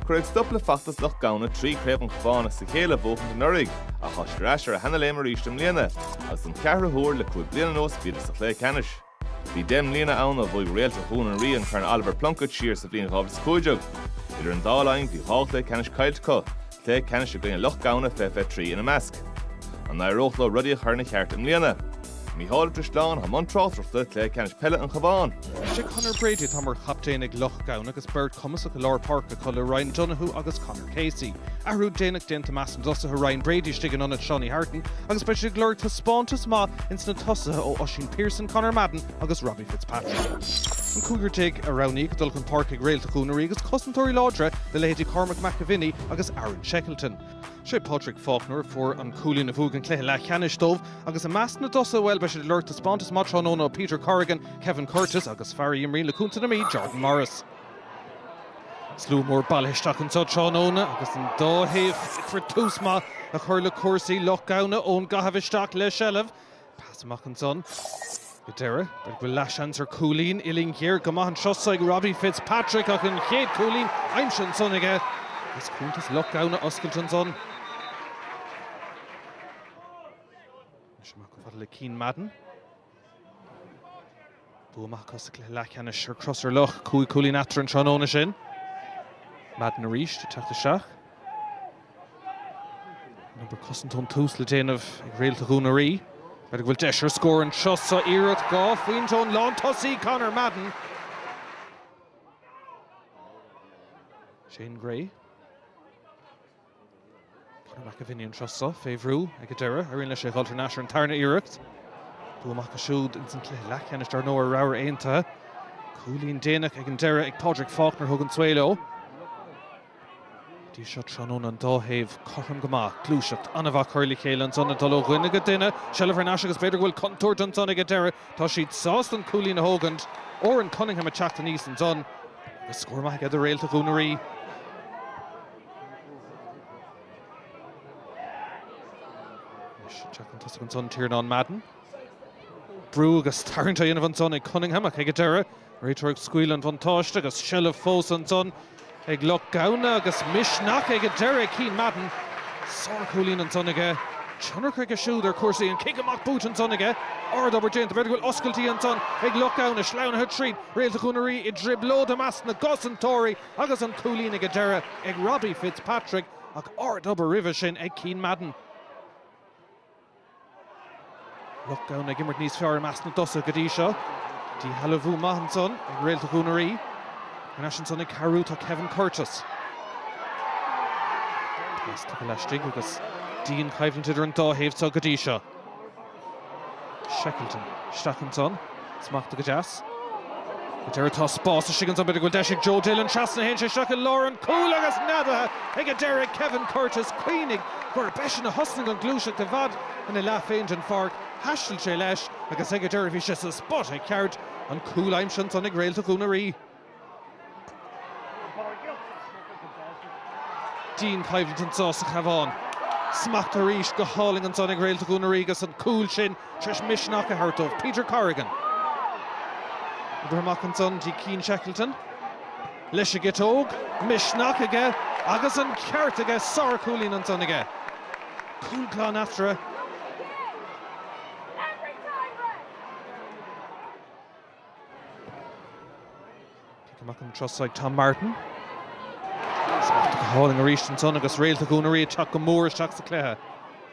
Cuireadh stop le feachtas Loch Gamhna trí Chraobh an Chabháin as a chéile a bhuachaint anuraidh, ach tá siad ar ais ar a sheana-léim aríst i mbliana, agus don cheathrú huair le cúig bliana anuas bhíodar sa chluiche ceannais. Bhí deich mbliana ann ó bhuaigh Réalta Dhún an Rí an Corn Oliver Plunkett siar sa bhliain 2015. Idir an dá linn bhí dhá chluiche ceannais caillte acu, cluiche ceannais i gcoinne Loch Gamhna 2023 ina measc. An n-éireodh leo rudaí a chur ina cheart i mbliana? Mícheál Ó Drisleáin atá i mbun tráchtaireachta, Cluiche Ceannais Peile an Chabháin. Is é Conor Brady atá mar chaptaen ag Loch Gamhna agus beirt chumasach i lár páirce acu le Ryan Donohoe agus Conor Casey. Athrú déanach déanta i measc na dtosaithe, Ryan Brady istigh in ionad Seánie Hartin agus beidh siad ag lorg taispeántas maith ins na tosaithe ó Oisín Pierson, Conor Madden, agus Robbie Fitzpatrick. An cúigear déag a roghnaíodh dul chun páirce ag Réalta Dhún an Rí agus cosantóirí láidre le leithéidí Cormac McAvinney agus Aaron Shekleton. Sé Padraig Faulkner a fuair an cúilín a bhuaigh an cluiche leathcheannais dóibh agus i measc na dtosaithe, bhuel, beidh siad ag lorg taispeántas maith tráthnóna ó Peter Corrigan, Kevin Curtis agus fear a imríonn le Contae na Mí, Jordan Morris. Slua mór bailithe isteach anseo tráthnóna agus an dá thaobh ag iarraidh tús maith a chur le cúrsaí. Loch Gamhna, ón gcaitheamh isteach le seilbh. Pas amach ansan. Go deireadh, b'fhéidir go bhfuil leathsheans ar chúilín, uillinn ghéar go maith an turas so ag Robbie Fitzpatrick ach an chéad chúilín aimsithe ansan aige. Is cuntas Loch Gamhna oscailte ansan. Le Cian Madden. Bua maith acu sa chluiche leathcheannais ar Crosserlough, cúig chúilín eatarthu an tráthnóna sin. Madden arís ag teacht isteach. An obair cosanta ón tús le déanamh ag Réalta Dhún an Rí. B'fhéidir go bhfuil deis ar scór an turas so, iarracht dhá phointe ón lántosaí, Conor Madden. Shane Gray. Cormac McAvinney an turas so fé bhrú ag an deireadh, éiríonn leis é a dh'fháil thar n-ais ar an tarna iarracht. Bua maith acu siúd ins an cluiche leathcheannais dar ndóigh ar Ramhar Aontaithe. Cúilín déanach ag an deireadh ag Pádraig Faulkner a thug an svae leo. Go dtí seo tráthnóna an dá thaobh cothrom go maith. Gluaiseacht an-mhaith curtha le chéile ansan ag dul ó dhuine go duine. Seilbh thar n-ais agus b'fhéidir go bhfuil contúirt ansan ag an deireadh. Tá siad sásta an cúilín a thógaint. Oran Cunningham ag teacht aníos ansan agus scór maith aige do Réalta Dhún an Rí. Teacht chun tosaigh ansan, Tiarnán Madden. Brú agus tarraingt á dhéanamh ansan ag Cunningham ach ag an deireadh, réiteoir ag scaoileadh an bhuntáiste agus seilbh fós ansan ag Loch Gamhna agus misneach ag an deireadh ag Cian Madden. Sár-chúilín ansan aige. Tionchar aige siúd ar chúrsaí. An cic amach buaite ansan aige. Ard-obair déanta. B'fhéidir go bhfuil oscailtí ansan ag Loch Gamhna. Sleamhnaithe tríd. Réalta Dhún an Rí i dtrioblóid i measc na gcosantóirí. Agus an cúilín ag an deireadh ag Robbie Fitzpatrick ach ardobair roimhe sin ag Cian Madden. Loch Gamhna ag imirt níos fearr i measc na dtosaithe go dtí seo. Díshealbhú maith ansan ag réalta Dhún na Rí. Thar n-ais ansan ag cabhrú tá Kevin Curtis. Pas tapa laistigh agus dian-choimhlint idir an dá thaobh seo go dtí seo. Shackleton. Isteach ansan. Smachta go deas. Faoi dheireadh tá spás istigh ansan. B'fhéidir go bhfuil deis ag Joe Dillon. Trasna a théann sé isteach i lár an chúil agus neadaithe ag an deiridh Kevin Curtis. Cuimhnigh gurb eisean a thosnaigh an gluaiseacht i bhfad ina leath féin den pháirc. Thaistil sé leis agus ag an deireadh bhí sé sa spota ceart. An cúl aimsithe ansan ag réalta Dhún na Rí. Dian-choimhlint anso sa Chabhán. Smacht arís go hálainn ansan ag réalta Dhún na Rí agus an cúl sin tar eis misneach a thabhairt dóibh. Peter Corrigan. Imeartha amach ansan dtí Cian Shackleton. Leis an gciotóg. Misneach aige agus an ceart aige. Sár chúilín ansan aige. Cúl glan eatarthu. Cic amach an turas so ag Tom Martin. Smacht go hálainn arís ansan agus réalta Dhún na Rí ag teacht go mór isteach sa chluiche.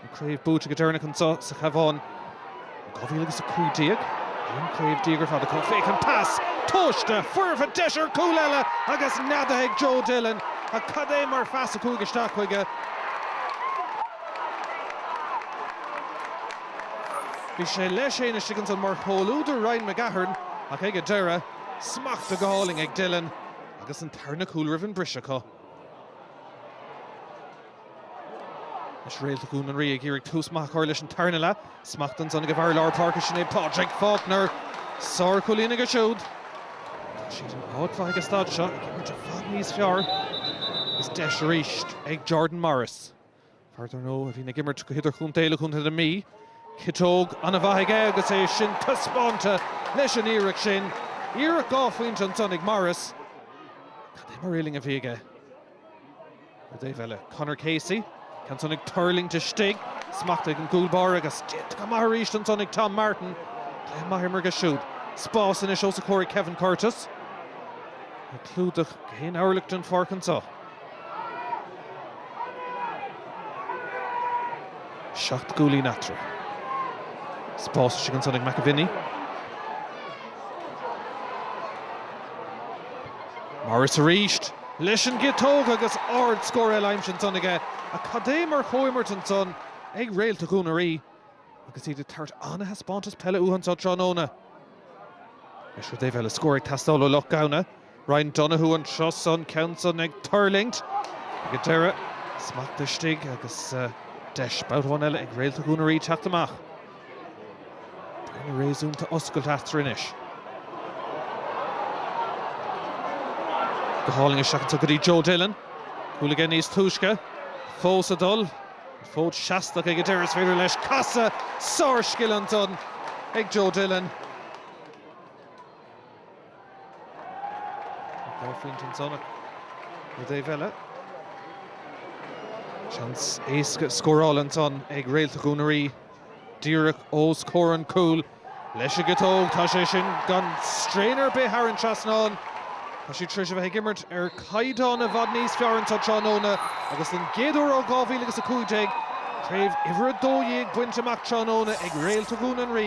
An chraobh buaite go deireanach anseo sa Chabhán in 2015. An chraobh déag ar fad acu. Féach an pas! Tomhaiste! Foirfe! Deis ar chúl eile agus neadaithe ag Joe Dillon. Ach cad é mar phas a chuaigh isteach chuige. Bhí sé leis fhéin istigh ansan mar chomhluadar Ryan McGahern ach ag an deireadh, smachta go hálainn ag Dillon agus an tarna cúl roimh an briseadh acu. Anois réalta Dhún na Rí ag iarraidh tús maith a chur leis an tarna leath. Smacht ansan ag a bhfear lár páirce sin é Pádraig Faulkner. Sár-chúilín aige siúd. Tá siad in áit mhaith ag an staid seo ag imirt i bhfad níos fearr agus deis arís ag Jordan Morris. Fear dár ndóigh a bhíonn ag imirt go hidirchontae le contae na Mí. Ciotóg ana mhaith aige agus é sin taispeánta leis an iarracht sin. Iarracht dhá phointe ansan ag Morris. Cad é mar uillinn a bhí aige ar an dtaobh eile. Conor Casey. Ceann ansan ag tuirlingt istigh. Smachta ag an gcúl báire agus déanta go maith arís ansan ag Tom Martin. Cluiche maith á imirt aige siúd. Spás anois ós a chomhair ag Kevin Curtis. Ag clúdach gach aon orlach den pháirc anso. Seacht gcúilín eatarthu. Spás istigh ansan ag McAviney. Morris arís, leis an gciotóg agus ardscór eile aimsithe ansan aige. Ach cad é mar chomhimirt ansan ag réalta Dhún na Rí agus iad ag tabhairt an-thaispeántas peile uathu anso tráthnóna. Anois, rud ar bith eile, scór ag teastáil ó Loch Gamhna. Ryan Donohoe an turas san, ceann san ag tuirlingt ag an deireadh. Smacht istigh agus deis babhta amháin eile ag réalta Dhún an Rí teacht amach. Bearna réasúnta oscailte eatarthu anois. Go hálainn isteach anseo go dtí Joe Dillon. Cúl aige níos túisce. Fós ag dul. An fód seasta aige ag an deireadh. Is féidir leis casadh. Sárscil ansan ag Joe Dillon. Dhá phointe ansan ach ar an dtaobh eile, seans éasca scórála ansan ag réalta Dhún an Rí, díreach os comhair an chúil. Leis an gciotóg, tá sé sin gan straein ar bith thar an trasnán. Tá siad tar éis a bheith ag imirt ar chaighdeán i bhfad níos fearr anseo tráthnóna agus den gcéad uair ó 2000 agus 15, craobh uimhir a dó dhéag bainte amach tráthnóna ag réalta Dhún an Rí.